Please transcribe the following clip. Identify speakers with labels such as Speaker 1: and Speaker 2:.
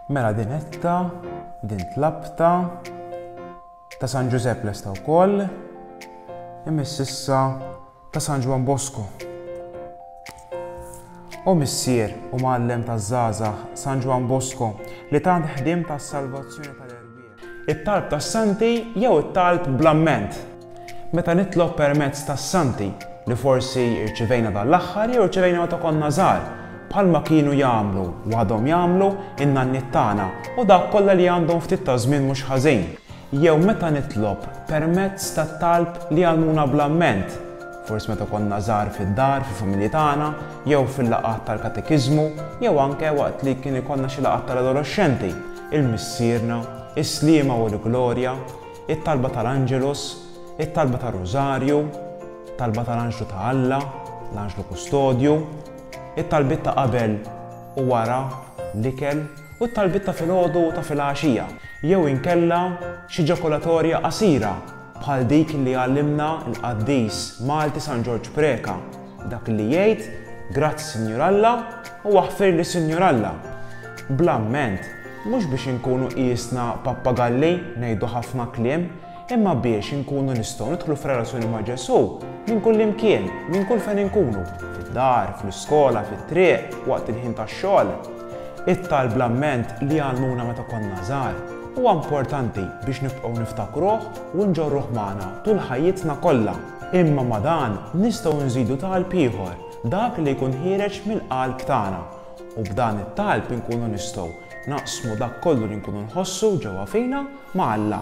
Speaker 1: Mela din etta, din tlabta, ta' San Ġużepp lesta wkoll, imiss issa ta' San Ġwan Bosco. U missier u mgħallem taż-żgħażagħ San Ġwan Bosco li tant ħdiem tas-salvazzjoni tal It-talb tas-Santi jew it-talb bl-amment? Meta nitlob permezz tas-Santi, li forsi rċivejna dan l-aħħar jew rċivejna meta konna żgħar, bħalma kienu jagħmlu, u għadhom jagħmlu, in-nanniet tagħna u dawk kollha li għandhom ftit ta' żmien mhux ħażin, jew meta nitlob permezz tat-talb li jgħallmuna bl-amment, forsi meta konna żgħar fid-dar, fil-familji tagħna, jew fil-laqgħat tal-katekiżmu, jew anke waqt li kien ikollna xi laqgħat tal-adoloxxenti, 'Il Missierna, is-Sliema u l-Glorja, it-talba tal-Angelus, it-talba tar-Rużarju, talba tal-Anġlu ta' Alla, l-Anġlu Kustodju, it-talbiet ta' qabel u wara l-ikel u t-talbiet ta' filgħodu u ta' filgħaxija, jew inkella xi ġakulatorja qasira bħal dik li għallimna l-qaddis Malti San Ġorġ Preca. Dak li jgħid, Grazzi Sinjur Alla u aħfirli Sinjur Alla. Bl-amment, mhux biex inkunu qiesna pappagalli ngħidu ħafna kliem, imma biex inkunu nistgħu nidħlu f'relazzjoni ma' Ġesù minn kullimkien, minn kull fejn inkunu, fid-dar, fl-iskola, fit-triq, waqt il-ħin tax-xogħol. It-talb bl-amment li għallmuna meta konna żgħar huwa importanti biex nibqgħu niftakruh u nġorruh magħna tul ħajjitna kollha. Imma ma' dan nistgħu nżidu talb ieħor, dak li jkun ħiereġ mill-qalb tagħna, u b'dan it-talb inkunu nistgħu naqsmu dak kollu li nkunu nħossu ġewwa fina ma' Alla.